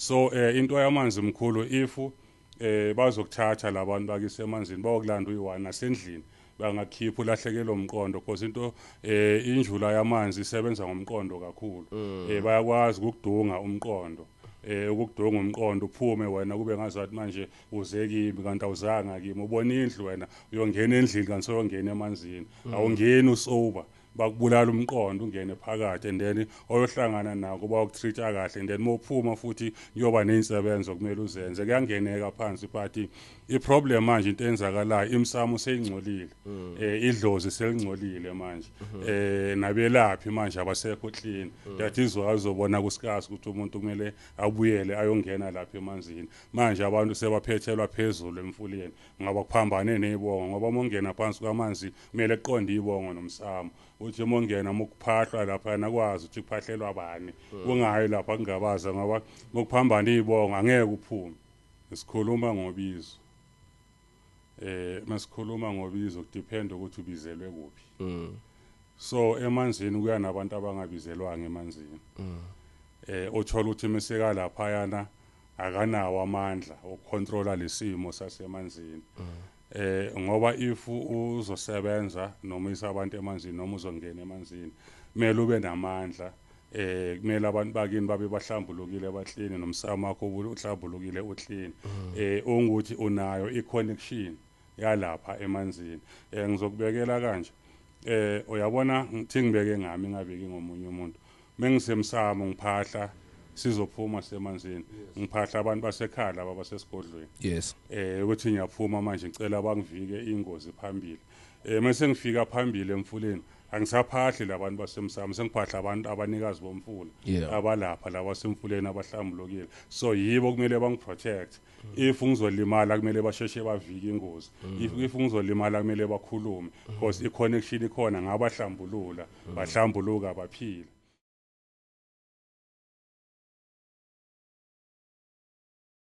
So eh into yamanzi mkhulu if eh bazokuthatha labantu bakise emanzini bayokulanda uyiwana nasendlini bangakhipha ulahlekelwe umqondo because into eh injula yamanzi isebenza ngomqondo kakhulu mm. eh bayakwazi ukudunga umqondo eh ukudunga umqondo uphume wena kube ngazathi manje uze kimi kanti awuzanga kimi ubona indlu wena uyongena endlini kanti soyongena emanzini mm. awungeni usober bakubulala umqondo ungene phakathi and then oyohlangana nako bawukutreat-a kahle and then uma uphuma futhi kuyoba ney'nsebenzo okumele uzenze kuyangeneka phansi but iproblem manje into eyenzakalayo imsamo seyingcolile um idlozi selingcolile manje um mhm. nabelaphi manje abasekho clean mm. that is why uzobona kusikazi ukuthi umuntu kumele abuyele ayongena lapha emanzini manje abantu sebaphethelwa phezulu emfuleni Ngoba kuphambane nebongo ngoba uma ungena phansi kwamanzi kumele kuqonde ibongo nomsamo. Uthi uma ungena uma kuphahlwa lapha nakwazi ukuthi kuphahlelwa bani. Hmm. Kungayi lapha kungabaza ngoba uma kuphambane ibongo angeke uphume. Sikhuluma ngobizo. Eh masikhuluma ngobizo kudiphenda ukuthi ubizelwe kuphi. Hmm. So emanzini kuya nabantu abangabizelwanga emanzini. Hmm. Eh othola ukuthi imisekala phayana akanawo amandla okucontrola lesimo sasemanzini mm. eh ngoba if uzosebenza noma isabantu emanzini noma uzongena emanzini kumele ube namandla eh kumele abantu bakini babe bahlambulukile abahlini nomsamo wakho uhlambulukile uhlini mm. eh unguthi unayo iconnection yalapha emanzini eh ngizokubekela kanje eh uyabona ngithi ngibeke ngami ngabeki ngomunye umuntu Mengisemsamo ngiphahla sizophuma semanzini ngiphahla abantu basekhaya laba basesigodlweni yes eh ukuthi ngiyaphuma manje ngicela bangivike ingozi phambili eh mase ngifika phambili emfuleni angisaphahli labantu basemsamo sengiphahla abantu abanikazi bomfula yeah. abalapha laba semfuleni abahlambulukile so yibo kumele bangiprotect if ngizolimala kumele basheshe bavike ingozi if if ngizolimala kumele bakhulume because i-connection ikhona ngabahlambulula bahlambuluka baphila